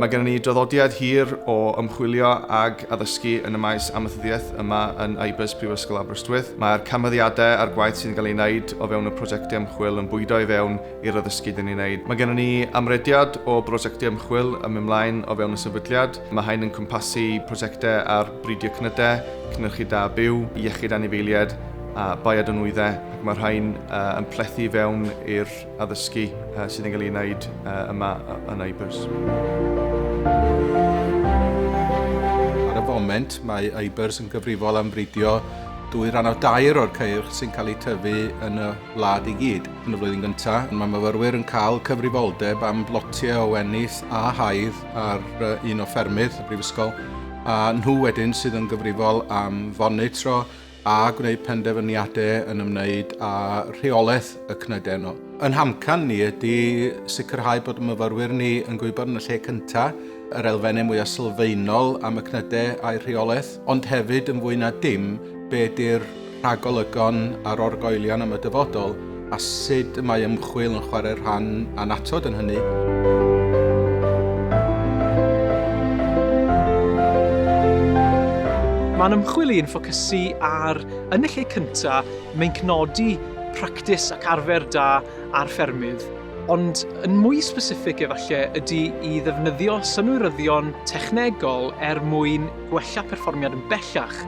Mae gennym ni draddodiad hir o ymchwilio ag addysgu yn y maes amaethyddiaeth yma yn IBIS Prifysgol Aberystwyth. Mae'r canfyddiadau a'r gwaith sy'n cael ei wneud o fewn y prosiectau ymchwil yn bwydo i fewn i'r addysgu dyn ni'n wneud. Mae gennym ni amrediad o brosiectau ymchwil yn mynd mlaen o fewn y sefydliad. Mae hyn yn cwmpasu prosiectau ar bridio cnydau, cynhyrchu da byw, iechyd anifeiliaid a baiad o nwyddau ac mae rhain yn plethu i fewn i'r addysgu sydd yn cael ei wneud yma yn IBERS. Ar y foment, mae IBERS yn gyfrifol am fridio dwy ran o dair o'r ceirch sy'n cael eu tyfu yn y wlad i gyd. Yn y flwyddyn gyntaf, mae myfyrwyr yn cael cyfrifoldeb am blotiau o wenith a haidd ar un o ffermydd y Brifysgol, a nhw wedyn sydd yn gyfrifol am fonitro a gwneud penderfyniadau yn ymwneud â rheolaeth y cnydau yno. Yn hamcan ni ydy sicrhau bod y myfyrwyr ni yn gwybod yn y lle cyntaf yr elfennau mwyaf sylfaenol am y cnydau a'i rheolaeth, ond hefyd yn fwy na dim be ydy'r rhagolygon a'r orgoelion am y dyfodol a sut y mae ymchwil yn chwarae rhan annatod yn hynny. Mae'n ymchwil i'n ffocysu ar, yn y lle cyntaf, meincnodi practis ac arfer da ar ffermydd, ond yn mwy specific efallai ydy i ddefnyddio synwyryddion technegol er mwyn gwella perfformiad yn bellach.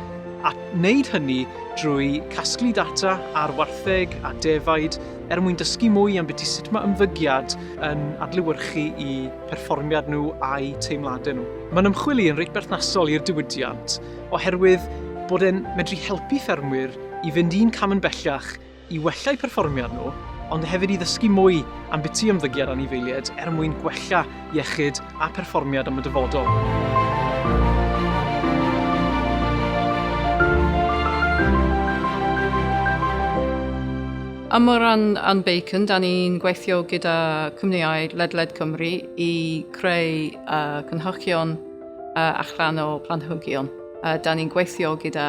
a wneud hynny drwy casglu data ar wartheg a defaid er mwyn dysgu mwy am biti sut mae ymddygiad yn adlewyrchu i perfformiad nhw a'i teimladau nhw. Mae'n ymchwili yn reit berthnasol i'r diwydiant oherwydd bod e'n medru helpu ffermwyr i fynd un cam yn bellach i wella'u perfformiad nhw, ond hefyd i ddysgu mwy am biti ymddygiad anifeiliaid er mwyn gwella iechyd a pherfformiad am y dyfodol. Am o ran Anne Bacon, da ni'n gweithio gyda cwmnïau ledled Cymru i creu uh, cynhyrchion uh, allanol planhigion. Uh, da ni'n gweithio gyda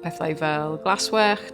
pethau fel glaswellt,